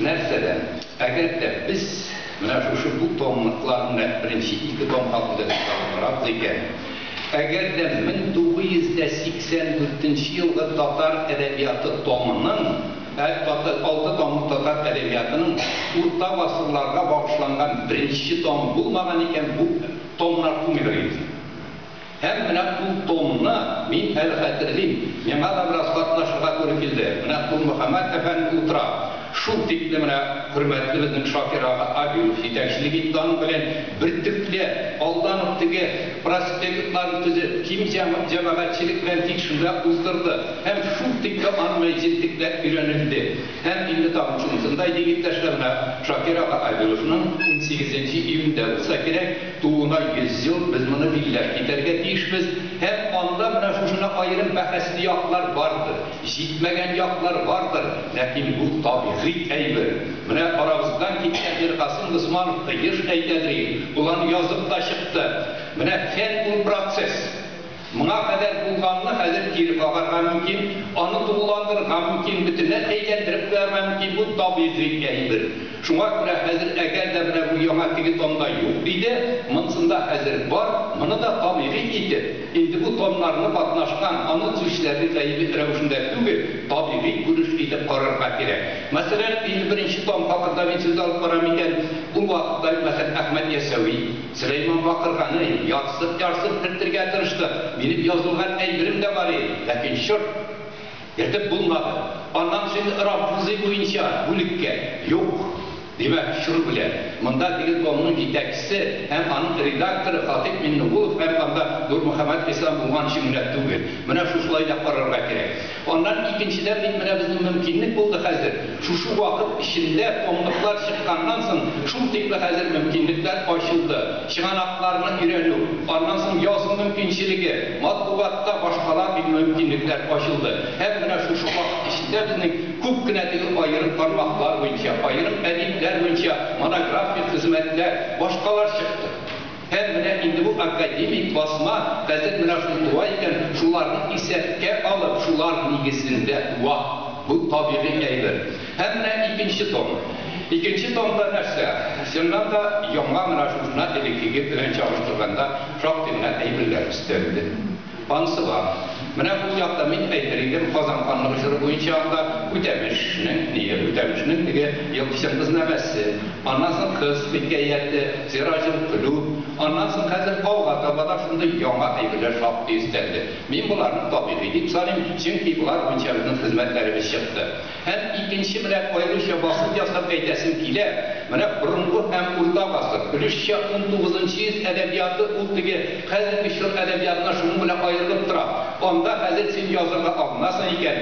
Нәрсә дә, әгәр дә без менә шушы бу томлыкларны беренче ике том хакында сүз алып барабыз икән, әгәр дә 1984 нче елгы татар әдәбияты томының, алты томлык татар әдәбиятының урта гасырларга багышланган беренче том булмаган икән, бу томнар тумыйдыр инде. Һәм менә ул томны мин әле хәтерлим, миңа да бераз катнашырга туры килде. Менә Кулмөхәммәт әфәнде утыра. Шул тикле менә хөрмәтле безнең Шакир ага Абилов җитәкчелек итте аның белән бертөкле, алдан ук теге проспектларны төзеп, киң җәмәгатьчелек белән тик шунда уздырды. Һәм шул тикле аны җентекләп өйрәнелде. Һәм инде тагын шунысында әйтик, иптәшләр, менә Шакир ага Абиловның унсигезенче июньдә булса кирәк, Тууына 100 ел, без моны билләп китәргә тиешбез, һәм анда менә шушына аерым бәхәсле яклар бардыр, җитмәгән яклар бардыр, ләкин бу табигый әйбер. Менә арабыздан киткән Миркасыйм Госманов та еш әйтәдер иде, ул аны язып та чыкты, Менә фән ул, процесс. Моңа кадәр булганны хәзер кире кагарга мөмкин, аны тулыландырырга мөмкин, бөтенләй әйләндереп куярга мөмкин, бу табигый әйбер. Шуңа күрә хәзер әгәр дә менә бу яңа теге томда юк иде, монсында хәзер бар, моны да табигый итеп, инде бу томнарны катнашкан, аны төзүчеләрне гаеби рәвешендә түгел, табигый күренеш итеп карарга кирәк. Мәсәлән, 51 нче том хакында мин сүз алып барам икән, ул вакытта, мәсәлән, Әхмәт Ясәви, Сөләйман бакырганы, ярсып-ярсып төртергә тырышты, Минем язылган әйберем дә бар иде, ләкин, чорт! Йөртеп булмады. Аннан соң Рафузый буенча бүлеккә. Юк! Димәк, чор белән. Монда Телекомның җитәкчесе һәм аның редакторы Хатыйп Миннегулов һәм анда Нурмөхәммәт Ислам булганчы гына түгел. Менә шушылай да карарга кирәк. Аннан икенчедән бит менә безнең мөмкинлек булды хәзер, шушы вакыт эчендә комлыклар чыкканнан соң шул тикле хәзер мөмкинлекләр ачылды, чыганакларны өйрәнү, аннан соң язу мөмкинчелеге, матбугатта башкала бит мөмкинлекләр ачылды. Һәм менә шушы вакыт эчендә безнең күп кенә теге аерым тармаклар буенча, аерым әдипләр буенча монографик хезмәтләр, башкалар чыкты. Һәм менә инде бу академик басма хәзер менә шул туа икән, шуларны исәпкә алып, шулар нигезендә туа. Бу табигый әйбер. Һәм менә икенче том. Икенче томда нәрсә? Чыннан да, яңа менә шушына элеккеге белән чагыштырганда шактый гына әйберләр өстәлде. Ансыга. Менә бу якта, мин әйтер идем, Казан ханлыгы җыры буенча анда Үтәмешнең, ние, Үтәмешнең теге елкычын кызнамәсе, аннан соң кыз хикәяте, Сираҗел Көлүп, аннан соң хәзер алга таба да шундый яңа әйберләр шактый өстәлде. Мин боларны табигый дип саныйм, чөнки болар буенча безнең хезмәтләребез чыкты. Һәм икенче белән аеруча басым ясап әйтәсем килә, менә борынгы һәм урта гасыр, өлешчә унтугызынчы йөз әдәбияты ул теге хәзерге чор әдәбиятына шуның белән аерылып тора. Анда хәзер син язырга алынасың икән,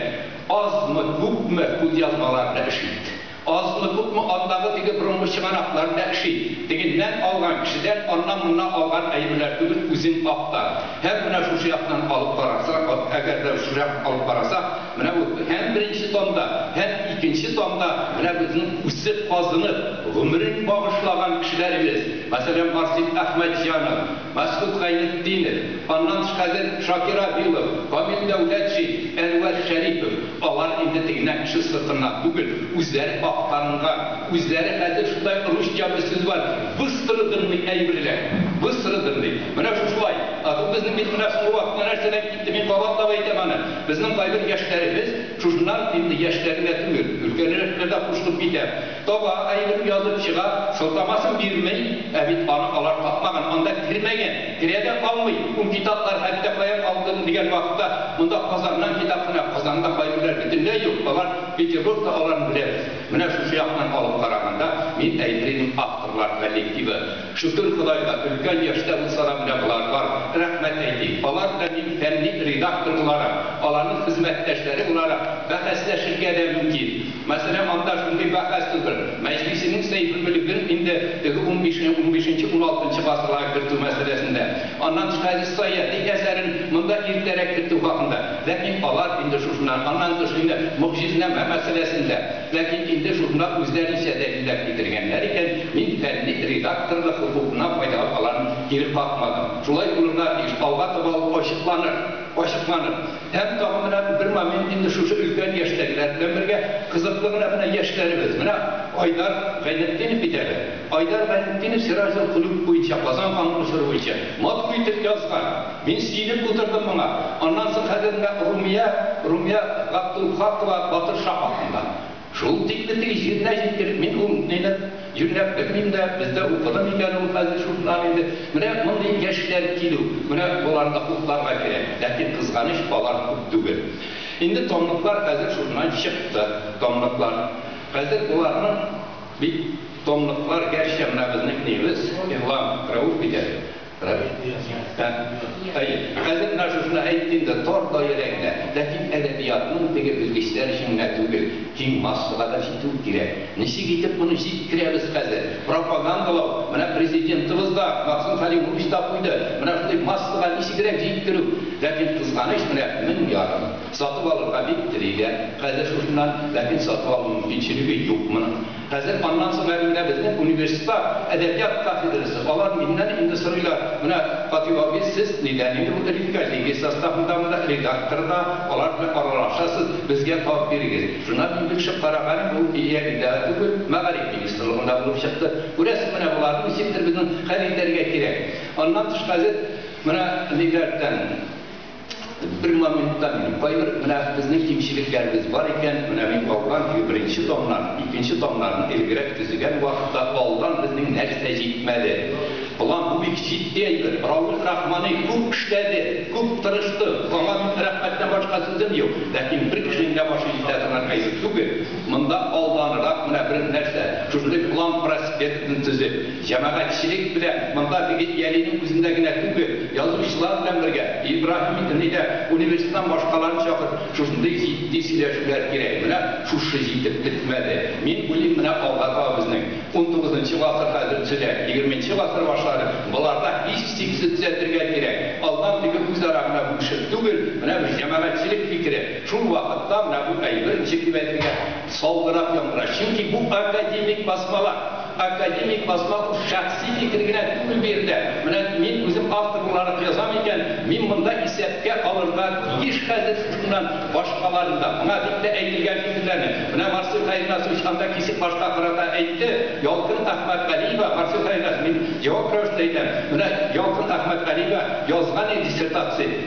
азмы, күпме кулъязмалар белән эш ит. Азмы, күпме андагы теге борынгы чыганаклар белән эш ит. Тегеннән алган, кешедән аннан-моннан алган әйберләр түгел, үзең акта. Һәм менә шушы яктан алып карасак, әгәр дә шушы яктан алып карасак, Менә бу һәм беренче томда, һәм икенче томда менә безнең үсеп, казынып, гомерен багышлаган кешеләребез, мәсәлән, Марсель Әхмәтҗанов, Мәсгут Гайнетдинов, аннан тыш хәзер Шакир Абилов, Камил Дәүләтшин, Әнвәр Шәрипов, алар инде теге нәкъ кеше сыртыннан түгел, үзләре актарынган, үзләре хәзер шундай русча бер сүз бар, выстраданный әйберләр, выстраданный. Менә шушылай. Ә бу безнең бит менә соңгы вакытта нәрсәдән китте, мин кабатлап әйтәм аны. Безнең кайбер яшьләребез, шушыннан инде яшьләр генә түгел, өлкәнрәкләр дә кушылып китә, таба, әйбер язып чыга, сылтамасын бирми, ә бит аны алар тапмаган, анда кермәгән, керә дә алмый, ул китаплар хәтта каян алынды дигән вакытта, монда Казаннан китап кына, Казанда кайберләр бөтенләй юк, алар Петербургта, аларны беләбез. Менә шушы яктан алып караганда, мин әйтер идем, авторлар коллективы, Шөкер Ходайга, өлкән яшьтә булса да менә болар бар, рәхмәт әйтик. Алар белән мин фәнни редактор буларак, аларның хезмәттәшләре буларак бәхәсләшергә дә мөмкин. Мәсьәлә анда шундый бәхәс түгел. Мәҗлисинең Сәйфелмөлеген инде теге унбишенче, унбишенче, уналтынчы гасырларга кертү мәсьәләсендә, аннан тыш Хәдис Саиәти әсәрен монда иртәрәк кертү хакында, ләкин алар инде шушында, аннан тыш инде Могҗизнамә мәсьәләсендә, Ләкин инде журнал үзләренчә дәлилләр китергәннәр икән, мин фәнни редакторлык хокукымнан файдалап аларны кире какмадым. Шулай булырга тиеш, алга таба ул ачыкланыр, ачыкланыр. Һәм тагын менә бер момент инде шушы өлкән яшьтәгеләр белән бергә кызыклы гына менә яшьләребез, менә Айдар Гайнетдинов бит әле. Айдар Гайнетдинов Сираҗел-колюб буенча, Казан каны очыру буенча матур итеп язган. Мин сөенеп утырдым моңа. Аннан соң хәзер менә Румия, Румия Габдулхакова батыр ша хакында. Шул тикле теге җиренә җиткереп, мин ул ниләр йөргән белмим дә, бездә укыды микән ул хәзер шушылар инде. Менә мондый яшьләр килү, менә боларны хупларга кирәк. Ләкин кызганыч, алар күп түгел. Инде томлыклар хәзер шушыннан чыкты, томлыклар. Хәзер боларның бит томлыклар, гәрчә менә безнекнебез, Игълан, Рәүф иде. Әй, хәзер менә шушыны әйттең дә, тар даирәңдә. Ләкин әдәбиятның теге белгечләр өчен генә түгел, киң массага да җитү кирәк. Ничек итеп моны җиткерәбез хәзер? Пропагандалау, менә Президентыбыз да, Максим Хәлимович та куйды, менә шундый массага ничегрәк җиткерү. Ләкин, кызганыч, менә мең ярым. Сатып алырга бик телиләр хәзер шушыннан, ләкин сатып алу мөмкинчелеге юк моның. Хәзер аннан соң әле менә безнең университетта әдәбият кафедрасы, алар миннән инде сорыйлар, менә Фатих абый, сез нидән инде бу редколлегия составындамы да, редактор да, алар белән аралашасыз, безгә тап бирегез. Шуннан мин бик шык караганым, ул Илья Ильдара түгел, мәгариф министрлыгында булып чыкты. Күрәсең, менә боларны ничектер безнең хәл итәргә кирәк. Аннан тыш хәзер менә ниләрдән. Бер моментта мин, кайбер менә безнең кимчелекләребез бар икән, менә мин калган көе беренче томнар, икенче томнарны элегрәк төзегән вакытта алдан безнең нәрсә җитмәде? План бу бик җитди әйбер. Рауил Рахмани күп эшләде, күп тырышты. Аңа мин рәхмәттән башка сүзем юк. Ләкин бер кешенең дә башы җитә торган әйбер түгел. Монда алданрак менә бер нәрсә, шушындый план проспектны төзеп, Җәмәгатьчелек белән, монда бигел Ялиның үзендә генә түгел, язучылар белән бергә, Ибраһим итни дә, университетнан башкаларны чакырып, шушындый җитди сөйләшүләр кирәк. Менә шушы җитеп бетмәде. Мин уйлыйм, менә алга таба безнең, унтугызынчы гасыр хәзер төзелә, егерменче гасыр башлары, боларда һичшиксез төзәтергә кирәк. Алдан теге үзара гына бүлешеп түгел, менә бер җәмәгатьчелек фикере, шул вакытта менә бу әйбер ничек дип әйтергә, Салгырак яңгыраш, чөнки бу академик басмалар. Академик басма бу шәхси фикер генә түгел бу ирдә. Менә мин үзем автор буларак язам икән, мин монда исәпкә алырга тиеш хәзер шушыннан башкаларын да. Моңа дип тә әйтелгән фикерләрне, менә Марсель Хәйрназович анда кисек башка карата әйтте, Ялкын Әхмәтгалиева, Марсель Хәйрназович, мин җавап рәвешендә әйтәм, менә Ялкын Әхмәтгалиева язган иде диссертация,